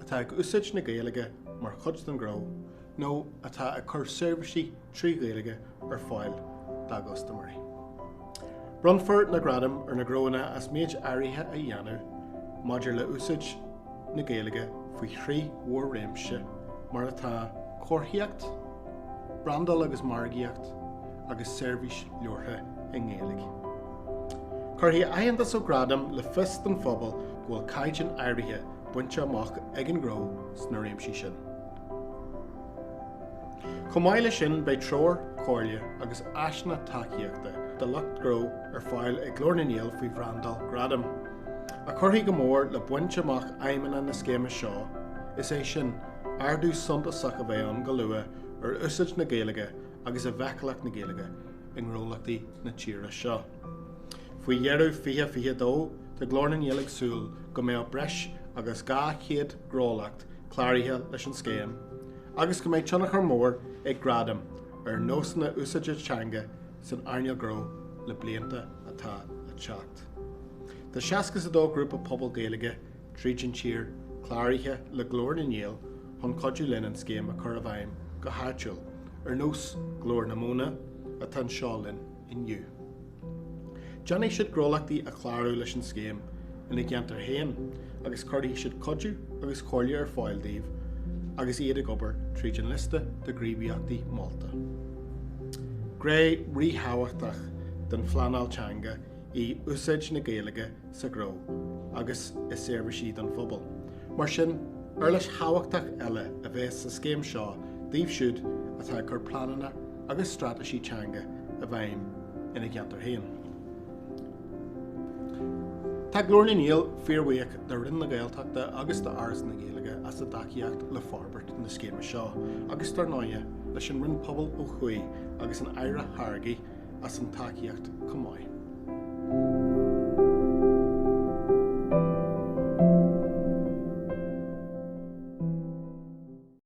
atá ag úsáid na Gaeilge mar chuid den ghnó nó atá ag cur seirbhísí trí Ghaeilge ar fáil dá gcustaiméirí. Bronnfar na gradaim ar na gnóanna as méid áirithe a dhéanamh maidir le úsáid na Gaeilge faoi thrí mhór-réimse mar atá Comharthaíocht, Brandáil agus Margaíocht agus Seirbhís Labhartha i nGaeilge. Cuirfidh aitheantas ó Gradaim le fios don phobal go bhfuil caighdeán áirithe bainte amach ag an ngnó sna réimsí sin. Chomh maith leis sin beidh treoir, comhairle agus áiseanna tacaíochta do lucht gnó ar fáil ag Glór na nGael faoi bhrandáil Gradaim, a chuirfidh go mór le baint amach aidhmeanna na scéime seo, is é sin, ardú suntasach a bheith ann go luath ar úsáid na Gaeilge agus i bhfeiceálacht na Gaeilge i ngnólachtaí na tíre seo. Faoi dheireadh 2022, tá Glór na nGael ag súil go mbeadh breis agus 200 gnólacht cláraithe leis an scéim agus go mbeidh tionchar mór ag Gradaim ar nósanna úsáide teanga san earnáil gnó le blianta atá ag teacht. Tá seasca is a dó grúpa pobail Gaeilge tríd an tír cláraithe le Glór na nGael chun cuidiú linn an scéim a chur i bhfeidhm go háitiúil, ar nós Ghlór na Móna atá anseo linn. inniu. Déanfaidh siad gnólachtaí a chlárú leis an scéim ina gceantar féin agus cuirfidh siad cuidiú agus comhairle ar fáil dóibh agus iad ag obair tríd an liosta de ghníomhaíochtaí molta. Gné ríthábhachtach den phleanáil teanga í úsáid na Gaeilge sa ghnó agus i seirbhísí don phobal. Mar sin, uirlis thábhachtach eile a bheas sa scéim seo dóibh siúd atá ag cur pleananna agus straitéisí teanga i bhfeidhm ina gceantar féin. Tá Glór na nGael fíorbhuíoch do Roinn na Gaeltachta agus d'Fhoras na Gaeilge as a dtacaíocht le forbairt na scéime seo agus, dar ndóigh, leis an Roinn Pobal ó thuaidh agus an Aire Hargey as an tacaíocht chomh maith.